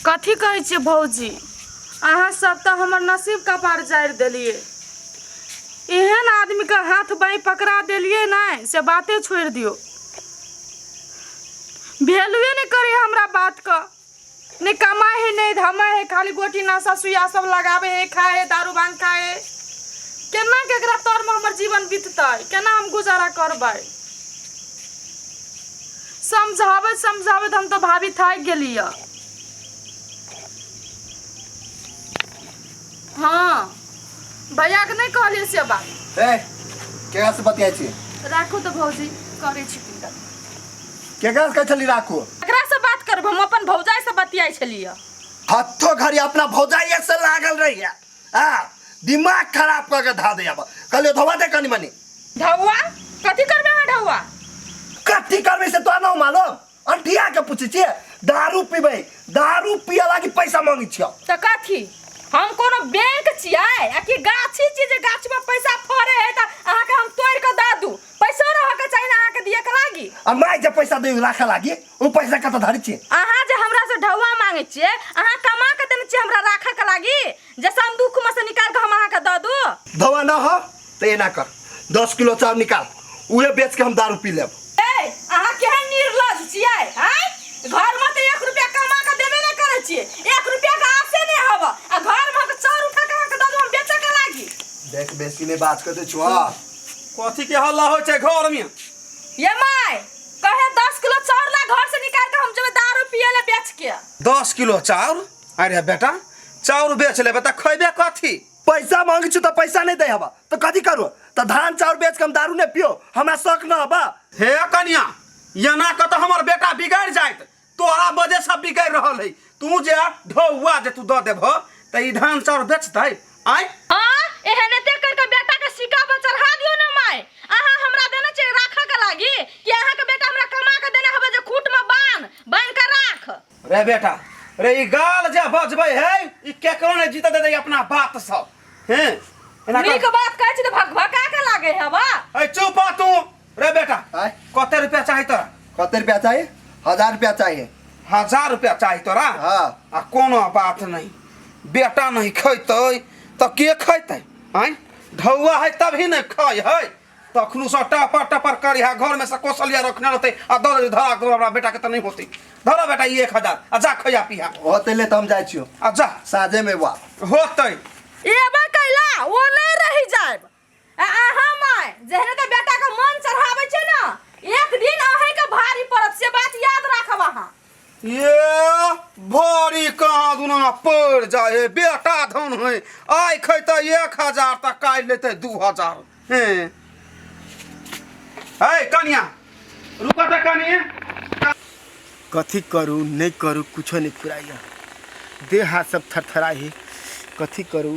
कथी कहै छियै भौजी अहाँ सब तऽ हमर नसीब कपार जारि देलियै एहन आदमी के हाथ बाईं पकड़ा देलियै ने से बाते छोड़ि दियौ वैल्यूए नहि करै हमरा बात के नहि कमाइ है नहि धमाइ है खाली गोटी नशा सुइया सब लगाबै है खाइ है दारू भांग खाइ है केना केकरा तर में हमर जीवन बीततै केना हम गुजारा करबै समझाबैत समझाबैत हम तऽ भाभी थाकि गेली यऽ हँ भैया के नहि कहलियै से बात ए केकरा से बतियाइ छी राखू तऽ भौजी करै छी पिंडा केकरा से कहै छली राखू एकरा से बात करब हम अपन भौजाई से बतियाई छलियै हत्तो घड़ी अपना भौजाइये से लागल रहिया आ दिमाग खराब करके धा दे अब कहले धोवा दे कनी मनी धौआ कथी करबे अहाँ धौआ कथी करबे से तोरा ना मालूम अंठिया के पूछे छिए दारू पीबे दारू पिया लागी पैसा मांगी छियो तऽ कथी हम कोनो बैंक छियै आ कि गाछी छियै जे गाछमे पैसा फड़े है तऽ अहाँके हम तोड़ि कऽ दऽ दू पैसो रहऽके चाही ने अहाँके दियके लागी आ माय जे पैसा दे राखे लागी उ पैसा कत धरि छी अहाँ जे हमरा से ढौआ मांगे छिए अहाँ कमा के देने छिए हमरा राखे के लागी जैसे हम दुख में से निकाल के हम अहाँ के द दू धवा ना हो तो एना कर दस किलो चाउर निकाल उहे बेच के हम दारू पी लेब ए अहाँ केहन निर्लज छिए हैं घर में तो एक रुपया कमा के देबे ना करे छिए एक रुपया के आसे नहीं हब आ घर में के चाउर उठा के अहाँ के द दू हम बेचे के लागी देख बेसी में बात करते छुआ कथी के हल्ला होइ छै घर में ये माय कहे दस किलो चाउर ला घर से निकाल के हम जब दारू पिए ले बेच के दस किलो चाउर अरे बेटा चाउर बेच लेबे त खैबे कथी पैसा मांगी छु त पैसा नहीं दे हवा तो कथी करू तो धान चाउर बेच के हम दारू नहीं पियो हमरा शौक न हवा हे कनिया एना क त हमर बेटा बिगड़ जायत तोहरा वजह से बिगड़ रहल है तू जे ढौआ जे तू द देब त ई धान चाउर बेचतै आय आ एहने ते कर के बेटा के सिक्का पर चढ़ा दियो ना माय अहा हमरा देना चाहिए राखा के लागी कि अहा के बेटा हमरा कमा के देना हबे जे खूट में बांध बांध के राख रे बेटा रे ई गाल जे बजबै है ई केकरो ने जीत दे अपना बात सब हैं एना नीक कर बात कहै छी त भक भका के लागे है बा ए चुप आ तू रे बेटा आय कते रुपया चाही तोरा कते रुपया चाहिए हजार रुपया चाहिए हजार रुपया चाही तोरा हाँ आ कोनो बात नहीं बेटा नहीं खैतै तऽ के खैतै आँय ढौआ है तभी ने खाय है तखनू से टपर टपर करी है घर में से कोसलिया रखने रहते आ दौड़ जे धरा दौड़ हमरा बेटा के तऽ नहीं होते धरा बेटा ई एक हजार आ जा खैया पिया होते ले तो हम जाए छियो आ जा साझे में वाप होतै एबे कैला ओ नहीं रही जाए आ अहाँ माय जहने तऽ बेटा के मन चढ़ाबै छै ना एक दिन अहीं के भारी पड़त से बात याद राखब अहाँ ये भारी कहाँ दुना पड़ जाए हे बेटा धन है आइ खैते एक हजार तऽ काल्हि लेते दू हजार हे है कनिया रुका तऽ कनिया कथी करू नहि करू कुछो नहि फुराइए देह हाथ सब थरथराइ है कथी करू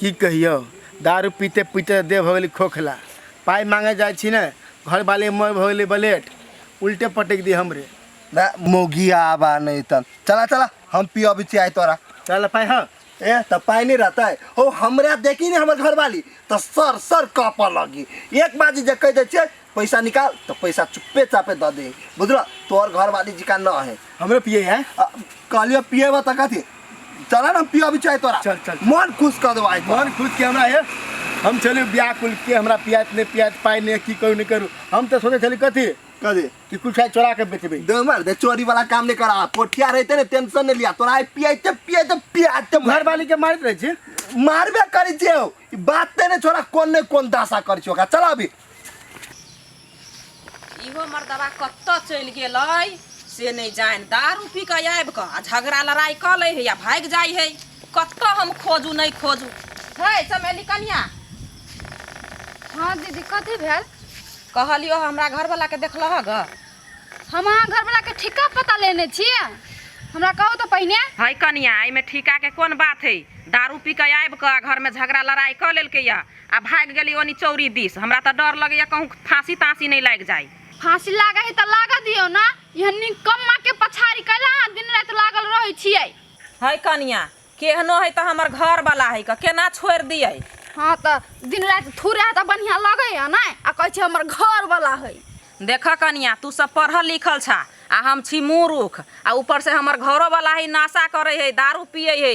की कहियौ दारू पीते पीते देह भऽ गेलै खोखला पाइ मांगे जाइ छी ने घर बाले मर भऽ गेलै बलेट उल्टे पटक दी हमरे ना मोगी आबा नहीं तन चला चला हम पी अभी चाय तोरा चल पाइ हाँ ए त पाई नहीं रहता है ओ हमरा देखी नहीं हमर घर वाली त सर सर कापा लगी एक बाजी जे कह दे छे पैसा निकाल तो पैसा चुप्पे चापे दे दे बुझल तोहर घर वाली जी का न है हमरे पिए है कहलिए पिए बा तक थी चला ना पिया भी चाहे तोरा चल, चल। मन खुश कर देवा मन खुद के हमरा है हम चले ब्याह कुल के हमरा पियात नहीं पियात पाई नहीं की करू नहीं करू हम तो सोचे चली कथी कर दे कि कुछ है चोरा के बेचबे दे मार दे चोरी वाला काम नहीं करा पोठिया रहते ने टेंशन नहीं लिया तोरा आई पियाते पियाते पियाते घर वाली के मारत रहे छी मारबे करी छे ई बात ते ने छोरा कोन ने कोन दासा कर छी ओकरा चला अभी इहो मर्दबा कतऽ चलि गेल अइ से नहि जानि दारू पी कऽ आबि कऽ आ झगड़ा लड़ाइ कऽ लै हइ आ भागि जाइ हइ कतऽ हम खोजू नहि खोजू है चमेली कनिया हाँ दीदी कथी भेल कहलियो हमरा घरवला के देखलह ग हम अहाँ घरवला के ठीका पता लेने छी हमरा कहू तऽ पहिने है कनिया एहिमे ठीका के कोन बात है दारू पी कऽ आबि कऽ घर में झगड़ा लड़ाई कऽ लेलकै या आ भागि गेली ओनी चौरी दिस हमरा तऽ डर लगैया कहूँ फांसी तांसी नहीं लागि जाय फांसी लागै है तऽ लागऽ दियौ ना यह निकम्मा के पछाड़ी कैला अहाँ दिन राति लागल रहै छियै है कनिया केहनो है तऽ हमर घर वाला है क केना छोड़ दिए हाँ तऽ दिन राति थूरे है तऽ बढ़िया लगै है ना आ कहै छै हमर घर वाला है देख कनिया तू सब पढ़ल लिखल छा आ हम छी मूर्ख आ ऊपर से हमर घरो वाला है नशा करे है दारू पिए है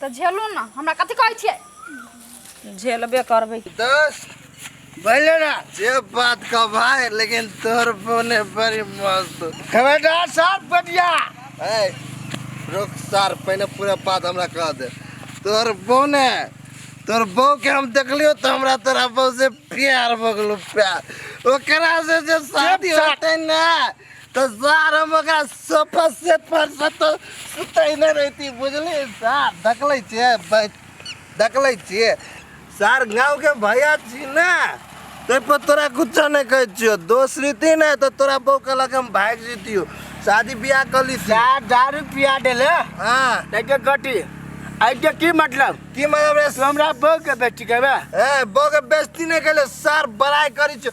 तऽ झेलू ने हमरा कथी कहै छियै झेलबे करबै दोस्त बोले ना जे बात का भाई लेकिन तोर बोले बड़ी मस्त खबरदार साथ बटिया ए रुक सार पहले पूरा बात हमरा कह दे तोर बोने तोर बो के हम देखलियो तो हमरा तोरा बो से प्यार भगलो प्यार ओकरा से जे शादी होते ना तो सार हम ओकरा सोफा सेट पर से तो सुतैने रहती बुझली सार देखले छियै बैठ- देखले छियै सार गाँव के भैया छी ने ते पर तोरा कुछो नहीं कहै छियो दोस्त रीति ने तो तोरा बहू कहलक हम भाग जीतियो शादी ब्याह कर ली चार दारू पिया देले हाँ तैके गटी ऐके की मतलब की मतलब रे हमरा बहू के बेटी कहबे ए बहू के बेइज्जती नहीं कैले सार बड़ाई करी छियो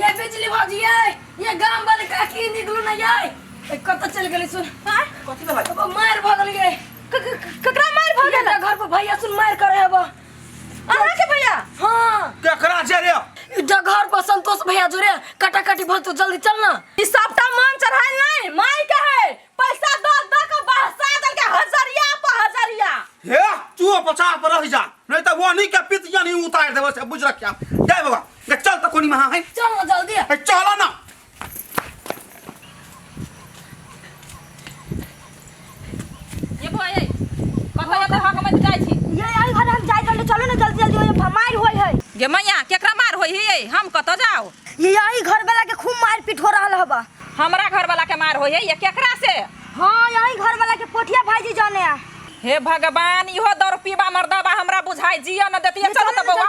ये बिजली भौजी ये ये गांव वाले काकी निकलू ना ये ए, कतऽ चल गेलै सुन हाँ? कथी भेलै अब मार भऽ गेलै ये क- क- क- ककरा मार भऽ गेल घर पर भैया सुन मार करे अब अहाँ के भैया हां केकरा छै रे ई डगर पर संतोष भैया जोरे कटाकटी भऽ तो जल्दी चल ना ई सबटा मन चढ़ाइल नहीं माई के है पैसा दो दो के बहसा दल के हजरिया पर हजरिया हे तू पचास पर रह जा नहीं तो वो नहीं के पितिया नहीं उतार देबो से बुझ रखिया जय बाबा गे, चल तो कोनी महा है चल ना जल्दी आ। ए, चलो ना ये भाई है कतौ जतौ हक मत जाइ छी ये आई घर हम जाए चले चलो ना जल्दी जल्दी ओए फरमाइल होय है गे मैया केकरा मार होई हियै हम कतौ जाओ ये आई घर वाला के खूब मार पीट हो रहल हबा हमरा घर वाला के मार होई है ये केकरा से हां यही घर वाला के पोठिया भाईजी जाने आ हे भगवान इहो दौर पीबा मर्दबा हमरा बुझाई जिया न देतिए चलो त बौआ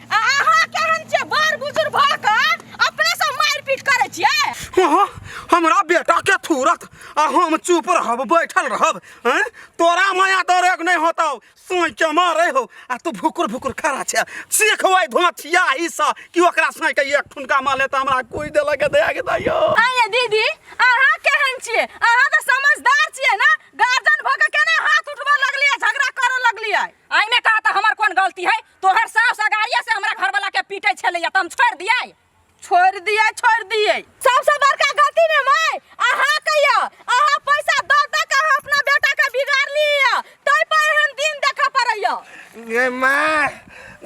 आ अहाँ केहन छियै बड़ बुजुर्ग भऽ कऽ अपने सब मारपीट करै छियै हाँ, हमरा बेटा के थूरत आ हम चुप रहब बैठल रहब हैं? तोरा माया दरेग नहीं होता सोई के मारे हो आ तू भुकुर भुकुर खड़ा छे सीखबै धोथिया ई सा कि ओकरा सोई के एक ठुनका माले त हमरा कोई दे लगे दे के दइयो आइए दीदी अहाँ केहन छियै अहाँ तऽ समझदार छियै ने गार्जियन भऽ कऽ केना हाथ उठबऽ लगलियै झगड़ा करऽ लगलियै आइमे कहा तऽ हमर कोन गलती है तोहर सास अगाड़िए से हमरा घरवाला के पीटे छलैया त हम छोड़ दिए छोड़ दिए छोड़ दिए सबसे बड़का गलती में मैं अहा कहिया अहा पैसा द द के अहाँ अपना बेटा के बिगाड़ लिया तई पर एहन दिन देखा पड़ैया गे माँ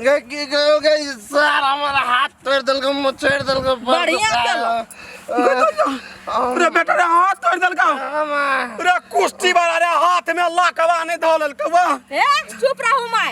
गे की गयो गे सार हमारा हाथ तोड़ दिल को मुँह छोड़ दिल को बढ़िया चलो। रे बेटा रे हाथ तोड़ देलका माँ रे कुश्ती वाला रे हाथ में लकवा नहीं धो लेलका वाह ए चुप रहू मैं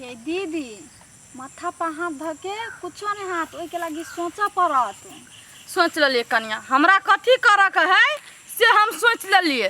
ये दीदी माथा पर हाथ धऽ के कुछो नहि हाथ ओहिके लागि सोचऽ पड़त सोच लेलिए कनिया हमरा कथी करऽ के है से हम सोच लेलिए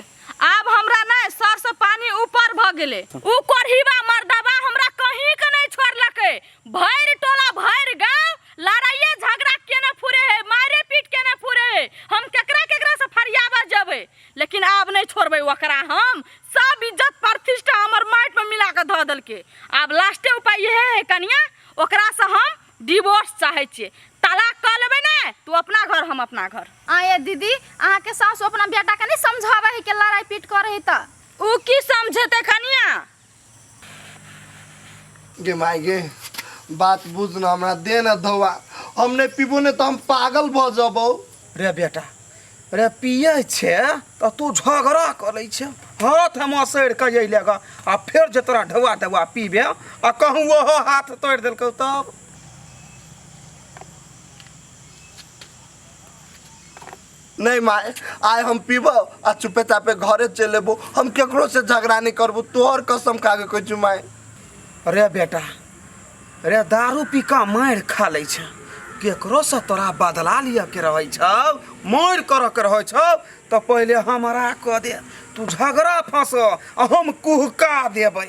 आब हमरा नहीं सर से पानी ऊपर भ गेले ऊ कोढ़ीवा मर्दवा हमरा कहीं के नहीं छोड़लके भैर टोला भैर गांव लड़ाइए झगड़ा केने फुरे है मारे पीट केने फुरे है हम केकरा केकरा से फरियाबा जबे लेकिन आब नहीं छोड़बे ओकरा हम सब इज्जत प्रतिष्ठा हमर माटि में मिला के ध दल के आब लास्टे उपाय यह है कनिया ओकरा से हम डिवोर्स चाहे छे तलाक क लेबे ना तू अपना घर हम अपना घर आए दीदी अहाँ के सासु अपना बेटा के नहीं समझावे है के लड़ाई पीट करे है त उ की समझते कनिया गे माय गे बात बुझ न हमरा दे न धोवा हम नहीं पीबो नहीं तो हम पागल भ जबो रे बेटा रे पिए छे तऽ तू झगड़ा करै छे हाथ हम असैर कऽ अइले ग आ फेर जे तोरा ढौआ ढौआ पीबे आ कहूँ ओहो हाथ तोड़ि देलकौ तब नहीं माए आए हम पीबो आ चुपे चापे घरे चल एबो हम केकरो से झगड़ा नहीं करबो तोहर कसम खा के कहै छु माए रे बेटा रे दारू पी कऽ मारि खा लै छै केकरोसँ तोरा बदला लिअ के रहै छौ मारि करऽ के रहै छौ तऽ पहिले हमरा कऽ दे तू झगड़ा फँसऽ आ हम कुहका देबै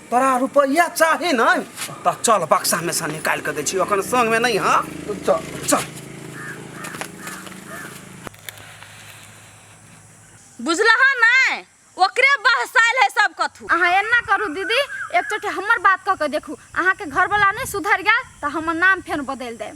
तोरा रुपया चाही न त चल बक्सा में से निकाल के दे छी अखन संग में नहीं हां चल चल बुझलह नै ओकरे बहसाइल है सब कथू अहाँ एना करू दीदी एक चोटी हमर बात कऽ के देखू अहाँके घरवला नहि सुधरि गेल तऽ हमर नाम फेर बदलि देब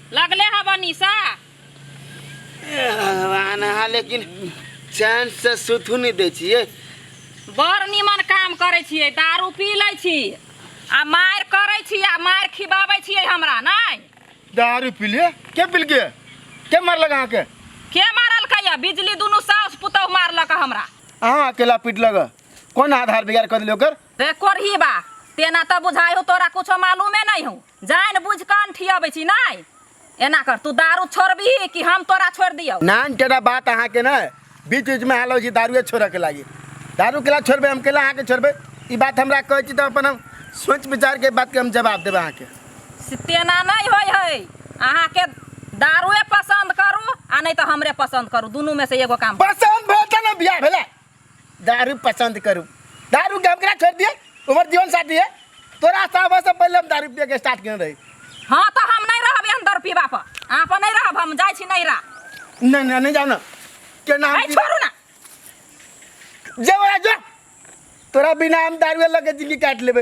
लगले है बनीसा ए भगवान अहाँ लेकिन चैन से सुतू नहीं दै छियै बड़ निमन काम करै छियै दारू पी लै छी आ मारि करै छी आ मारि खिबाबै छियै हमरा नहि दारू पी लिए के पी लिए के मारलक अहाँके के मारलकै यऽ बिजली दुनू साउस पुतहु मारलक हमरा अहाँ अकेला पीटलक हँ। कोन आधार बिगाड़ कऽ देलियै ओकर रे कोरही बा तेना तऽ बुझाइ हो तोरा कुछो मालूमे नहि हो जानि बुझि कान ठियबै छी नहि एना कर तू दारू छोड़बिही कि हम तोरा छोड़ि दियौ नान केना बात अहाँके ने बीच बीचमे हालो छी दारुए छोड़यके लागि दारू केला छोड़बै हम केला अहाँके छोड़बै ई बात हमरा कहै छी तऽ अपन हम सोच विचारके बातके हम जवाब देबै अहाँके से तेना नहि होइ है अहाँके दारूए पसन्द करू आ नहि तऽ हमरे पसन्द करू दुनूमे से एगो काम करू। पसन्द भेल तऽ ने बियाह भेलै दारू पसंद करू दारू के हमरा छोड़ दिए उमर जीवन साथी है तोरा साहब से पहले हम दारू पिए के स्टार्ट कर रही हाँ तो हम नहीं रहब एहन दर पीबा पर अहाँ पर नहीं रहब हम जाइ छी नहीं रह नहीं नहीं नहीं जाओ ना के नाम आई छोड़ू ना जे बड़ा जो तोरा बिना हम दारू लगे जिंदगी काट लेबे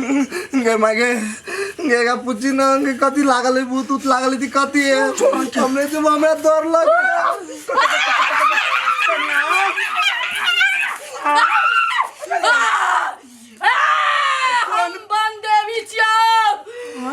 गे माय गे गे का पूछी ना गे कथी लागल है भूत उत लागल है ती कथी है हमरे से हमरा डर लग हम बन देवी छियौ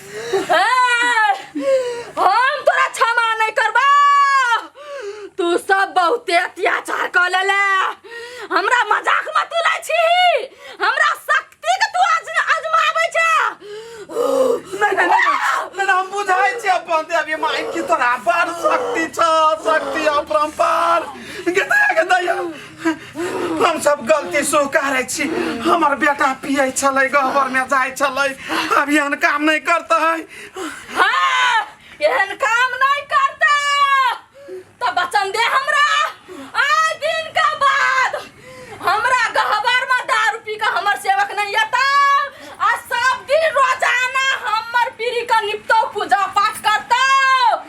ए, हम तोरा क्षमा नहीं करबा तू सब बहुते अत्याचार कर लेले हमरा मजाक मत उड़ै छी हमरा शक्ति के तू आज आजमाबै छ नहीं नहीं नहीं नहीं, नहीं हम बुझाई छी अपन दे अभी माई की तोरा बड़ शक्ति छ शक्ति अपरंपार गदा गदा हम सब गलती स्वीकारै छी हमर बेटा पियै छलै गहबरमे जाइ छलै अब एहन काम नहि करतै हाँ, एहन काम नहीं करता तो बचन दे हमरा आए दिन का बाद हमरा गहबर में दारू पी के हमर सेवक नहीं आता आ सब दिन रोजाना हमर पीरी का निपटो पूजा पाठ करता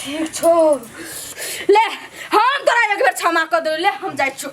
ठीक छो ले हम तोरा एक बेर क्षमा कर दे ले हम जाय छो